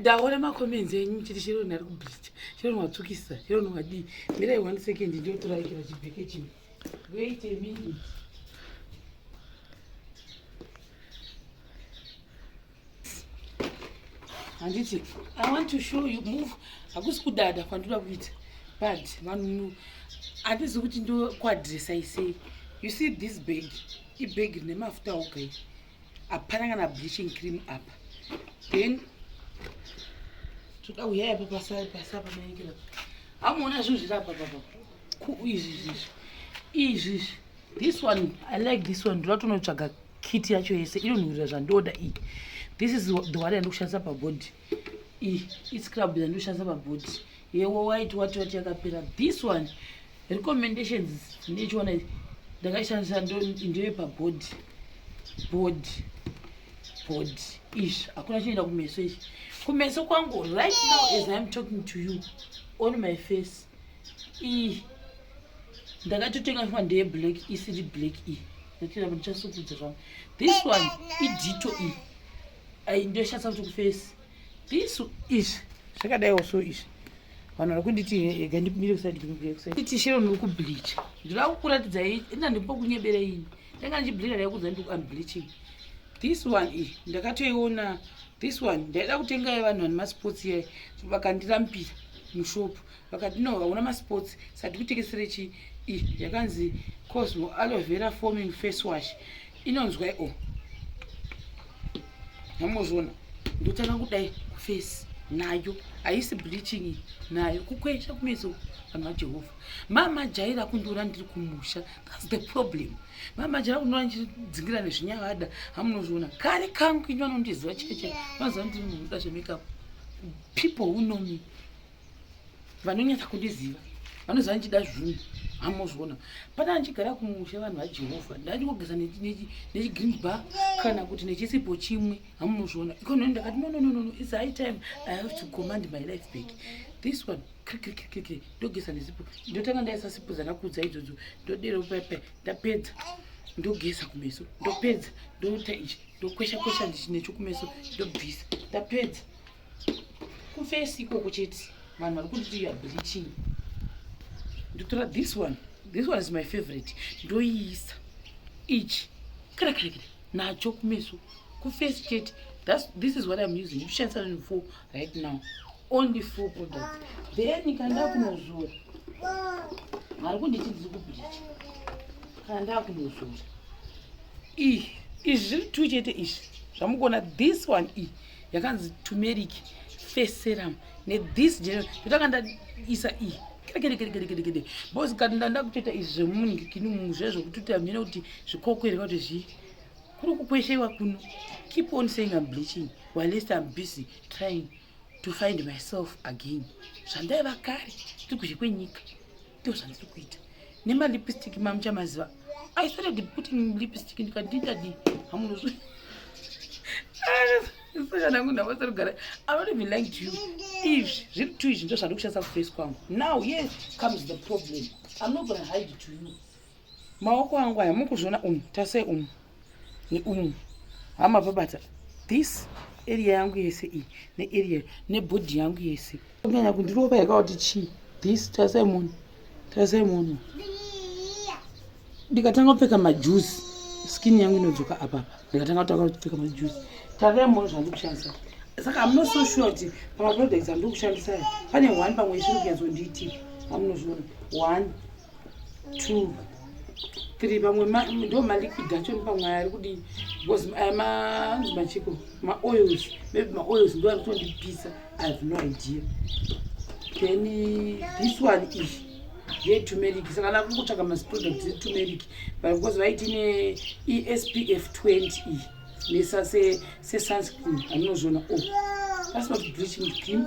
ndaona macomments enyu chiti sheroni ari kubhicha sheroni watsukisa sheroni wadii mirai one second ndiotoraikira chibheke chimwe wait a minute handiti i want to show you move hakusi kudada kwandoda kuita but vanhu handizi kuti ndokuadressai sei you see this bag ibag rine mafuta oga hapana kana bleaching cream apa then toda kuya yapa pasai pasa pamaekera hamuona zvinhu zviri apa papa izvi zvizvi izvi izvi this one i like this one ndoda tonotsvaga kiti yacho yese inonhuhurira zvandoda iyi this is the one yandikushandisa pabody iscrub yandoshandisa pabody yewo waiti wati wati yakapera this one recommendations ndechiona ndakaishandisa ndewe pabody body body izvi hakuna chinoenda kumeso izvi kumeso kwangu right now as iam talking to you on my face ii ndakatotenga fuma ndeye black isiri black iyi ndatoenda ndichasukudza zvangu this one idito iyi ai ndoshatsa kuti kufesi bisu izvi zvakadaiwo so izvi vanhu vari kunditi ega ndipindire kusaiditishero ndiri kubleacha ndiri akukuratidza ina ndimbo kunyebera ini ndanga ndichibleacha ndaikudza ndiri kuambleaching this one iyi ndakatoiona this one ndaida kutenga yevanhu vane masports yayi vakandirampira mushopu vakati no hauna masports sati kutekesere chi yakanzi cosmo aloe vera forming face wash inonzwa o oh. hamozviona ndotanga kudai kufesi nayo haisi bleaching nayo kukwesha kumeso vanhu vajehovha mama jaira kundiona ndiri kumusha thats the problem mama jaira kundiona ndichidzingira nezvinyavada hamunozviona kari kangu ini vanondiziva cheche vanoziva ndiri munhu uda zvemakapu people who know me vanonyatsa kundiziva vanoziva ndichida zvinhu hamozviona patana ndichigara kumusha vanhu vajehovha ndandikogeza nechigreen bar kana kuti nechisipo chimwe hamozviona ikononi ndakati no nononono its high time i have to command my life back this one krikrikrikri ndogeza nesipo ndotanga ndaisa sipo dzanakudza idzodzo ndodero pepe ndapedza ndogeza kumeso ndopedza ndoita ichi ndokwesha kwesha nechokumeso ndobvisa ndapedza kufesi ikoko chete vanhu vari kunditi youare bleaching ndotora this one this one is my favorite ndoiisa ichi kare kare kare nacho kumeso kufesi chete this is what im using ndichishandisa nani four right now only four products then kanda kunozora vari kunditi ndiri kubleacha kanda kunozora ii izvi zviri two chete izvi zvamukuona this one ii yakanzi turmeric face serum nethis general ndotanga ndaisa iyi kerekerekerekerekede bos kati ndanda kutoita izvi zvemunikini munhu zviya zvekutoita mhene kuti zvikokwereka kuti zvii kuri kukwesheiwa kuno keep on saying am bleaching whilest am busy trying to find myself again zvandaiva kare tiri kuzhe kwenyika ndozvandiri kuita nemalipstick mamuchamaziva i started putting lipstick ndikati ndadi hamunozvi sokana kunhu avasari kugara i don't even like to you izvi zviri two izvi ndo zvandiri kushandisa kuface kwangu now yes comes the problem i'm not gonna hide to you maoko angu aya mukuzviona umu tasei umu neumu hama babata this area yangu yese iyi nearea nebhodhi yangu yese kunyanya kundirova yakauti chii this tasai munhu tasai munhu ndikatanga kupfeka majuzi skin yangu inodzoka apapa ndikatanga kutanga kupfeka majuzi tasai munhu zvandikushandisa saka hamuna so sure kuti pamaproducts andiri kushandisa pane one pamwe isiri kunyatso nditi amunozviona one two three pamwe ndo maliquid acho pamwe ari kudii because aya manzi machiko maoils maybe maoils ndo ari kutondipisa i have no idea then this one ichi yetumeric saka na kungotsvaga maproduct etumeric but because vaiti ne espf 20 iyi mesa sesunscreen anozviona o oh, pasina kuti bleaching cream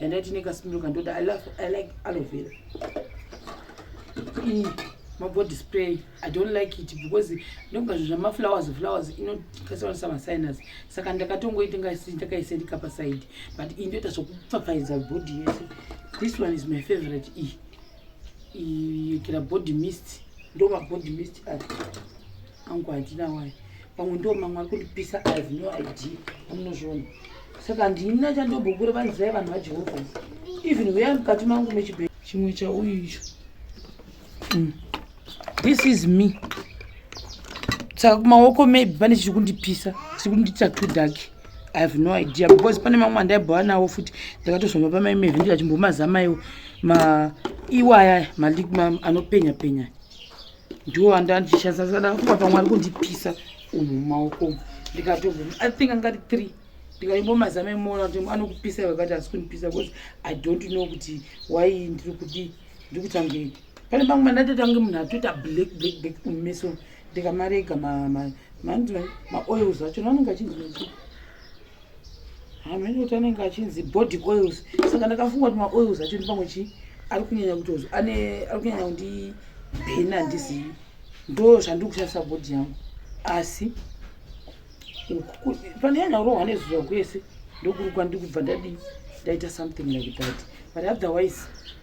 yandaiti nekaspindiro kandoda i love i like aloe vera iyi mabody spray i don't like it because ndonga zvinhu zvamaflowers flowers inokasiwanisa masinus saka ndakatongoiti ndakaisendika pasaidi but iyi ndoita zvokupfapfaidza body yese this one is my favorite iyi ikira body mist ndoma body mist ati angu handina wani pamwe ndo mamwe ari kundipisa i have no idea amunozviona saka handina chandobhokure vanzivai vanhu vajehovha even huya mukati mangu mechibhee chimwe chauyu icho mm. this is me saka kumaoko maybe pane chiri kundipisa chiri kundiita too dark i have no idea because pane mamwe andaibhova nawo futi ndakatozvamba pamaimevhi ndikachimbomaza maiwo maiwaya anopenya penya ndiwo andandishandisa saka kuva pamwe ari kundipisa umu mumaoko umu ndikatobvuma i think angati three ndikaimbomazama imoona kuti anokupisa iwe kati asi kundipisa because i don't know kuti why ndiri kudii ndiri kutange pane pamwe mandatotange munhu atoita black black black mumeso ndikamarega maoils acho naanenge achinzi hameno kuti anenge achinzi body oils saka ndakafunga kuti maoils acho ndi pamwe chii ari kunyanya kutozo ane ari kunyanya kundi bhena handizivi ndo zvandiri kushandisa body yangu asi pane nyanya kurohwa nezuva kwese ndokuri kwandiri kubva ndadii ndaita something like that but otherwise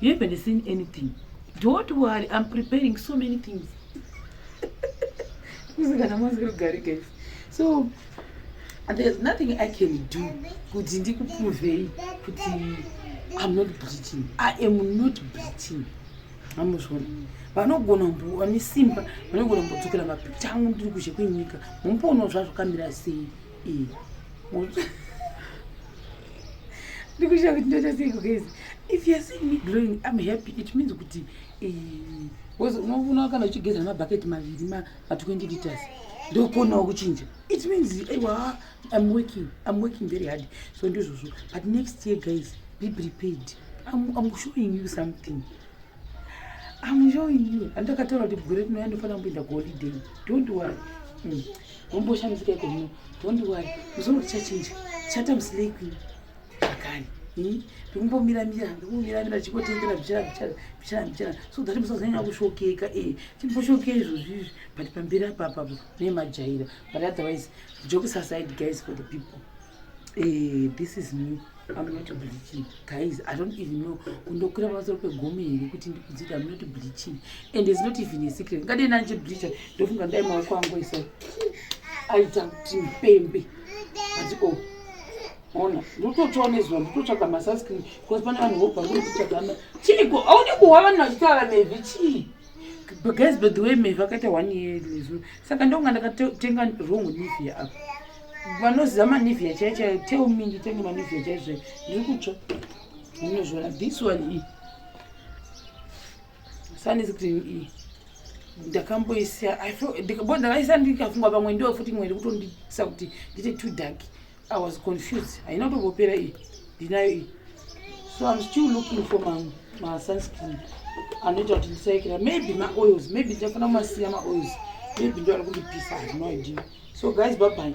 You haven't seen anything. Don't worry, I'm preparing so many things. So there's nothing I can do kuti ndikuprovei kuti I'm not bleaching. I am not bleaching. Amuzvona. Vanogona mbo vane simba, vanogona mbo tsukira mapicture angu ndiri kuzhe kwenyika. Mumpono zvazvo kamira sei. Eh. ndikushaya kuti ndoita sei kugeza if youare seeing me glowing im happy it means kuti eh, unoona kana uchigeza nemabhaketi maviri ma20 liters ndokonawo kuchinja it means aiwa im working im working very hard so ndizvozvo but next year guys be prepared i'm showing you something I'm showing you. Andakataura kuti gore rino yandofana kumboenda kuholiday. Don't worry. Mm. Womboshamisika iko muno. Don't worry. Musoro tichachinja. Chata muslay queen. Akani. Hmm? Ndikumbomira mira, ndikumbomira mira chikotengera bichara bichara bichara bichara. So that musazanya kushokeka eh. Chimboshokeka izvo zvizvi but pambira papa ne majaira. But otherwise, jokes aside guys for the people. Eh, this is me. amuna kuti bleaching guys i don't even know kundokwira pamusoro pegome here kuti ndikudzika amuna kuti bleaching and is not even a secret ngadei nanje bleacha ndofunga ndai maoko angu isa aita kuti mpembe ati o oh, ona ndototsva nezuva ndototsvaga masunscreen because pane vanhu vobva kunototsvagama chiiko audi kuhwa vanhu vachitaura mevhi chii guys by the way mevhi akaita one year nezuro saka ndonga ndakatenga wrong nivia apa vanoziva manivia chai chai tell me nditenge manivia chai zvai ndiri kutsva ndinozviona this one iyi sanizi kuti iyi ndakamboisa bo ndakaisa ndikafunga pamwe ndiwo futi imwe ndikutondisa kuti ndite two dark i was confused haina kutongopera iyi ndinayo iyi so im still looking for masunscreen anoita kuti ndisaikira maybe maoils maybe ndichafana kumasiya maoils maybe ndoari kundipisa no idea so guys babai